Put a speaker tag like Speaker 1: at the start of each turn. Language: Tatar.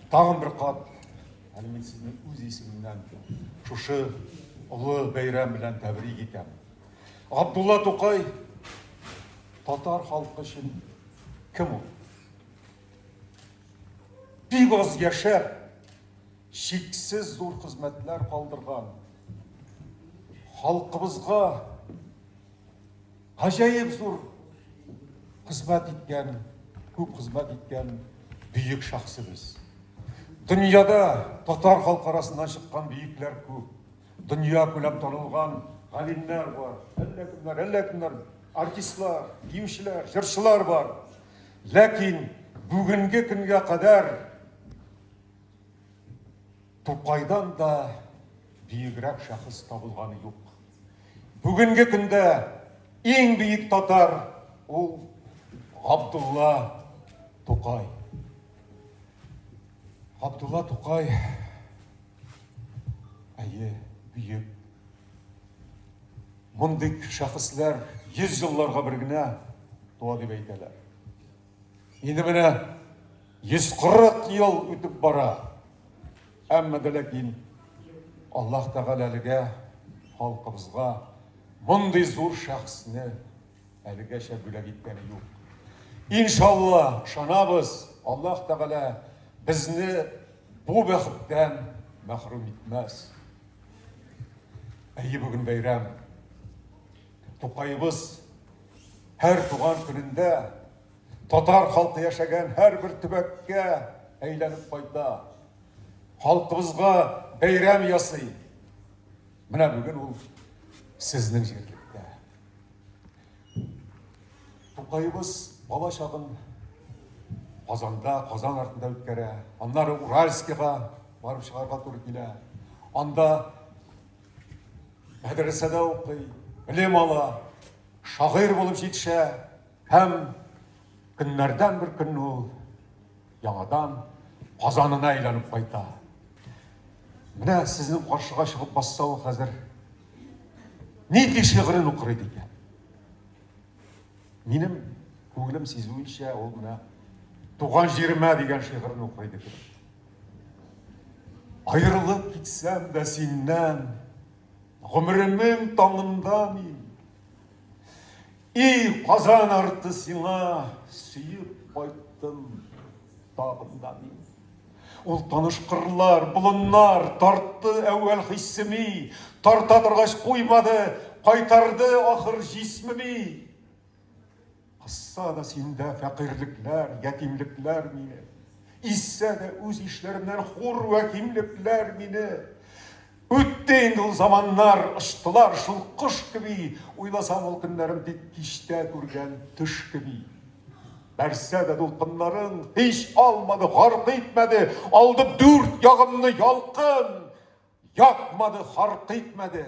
Speaker 1: Тагын бер кат әле мин сезне үз исемемнән шушы олы бәйрәм белән тәбрик итәм. Абдулла Тукай татар халкы өчен кем ул? Бик аз яшәп, шиксез зур хезмәтләр калдырган халкыбызга Гаҗәеп зур хезмәт иткән, күп хезмәт иткән бөек шәхсебез. Дөньяда татар халкы арасыннан чыккан бөекләр күп. Дөнья күләм танылган галимнәр бар, әллә кемнәр, әллә кемнәр, артистлар, биючеләр, җырчылар бар. Ләкин бүгенге көнгә кадәр Тукайдан да биегрәк шәхес табылганы юк. Бүгенге көндә иң биек татар ул Габдулла Тукай. Габдулла Тукай әйе, биек. Мондый шәхесләр 100 елларга бер генә туа дип әйтәләр. Инде менә 140 ел үтеп бара. Әмма дә ләкин Аллаһ Тәгалә әлегә халкыбызга мондый зур шәхесне әлегәчә бүләк иткәне юк. Иншалла, шанабыз, Аллаһ Тәгалә безне бу бәхеттән мәхрүм итмәс. Әйе, бүген бәйрәм. Тукаебыз һәр туган көнендә татар халкы яшәгән һәрбер төбәккә әйләнеп кайта. Халкыбызга бәйрәм ясый. Менә бүген ул сезнең җирлектә. Тукаебыз бала чагын Казанда, Казан артында үткәрә. Аннары Уральскига барып чыгарга туры килә. Анда Мәдрәсәдә укый, белем ала, шагыйрь булып җитешә һәм көннәрдән бер көн ул яңадан Казанына әйләнеп кайта. Менә сезнең каршыга чыгып басса ул хәзер нинди шигырен укыр иде икән? Минем күңелем сизүенчә ул менә Туган җиремә дигән шигырен укыр иде. Аерылып китсәм дә синнән, гомеремнең таңында мин. И Казан арты сиңа сөеп кайттым тагында мин. Ул таныш кырлар, болыннар тартты әүвәл хиссеми, тарта торгач куймады, кайтарды ахыр җисмеми. Кызса да синдә фәкыйрьлекләр, ятимлекләр мине. Изсә дә үз ишләремнән хур вә кимлекләр мине. Үтте инде ул заманнар, очтылар шул кош кеби, уйласам ул көннәрем тик кичтә күргән төш кеби. Бәрсә дә дулкыннарын һич алмады, гарк итмәде, алды дүрт ягымны ялкын, якмады, харк итмәде.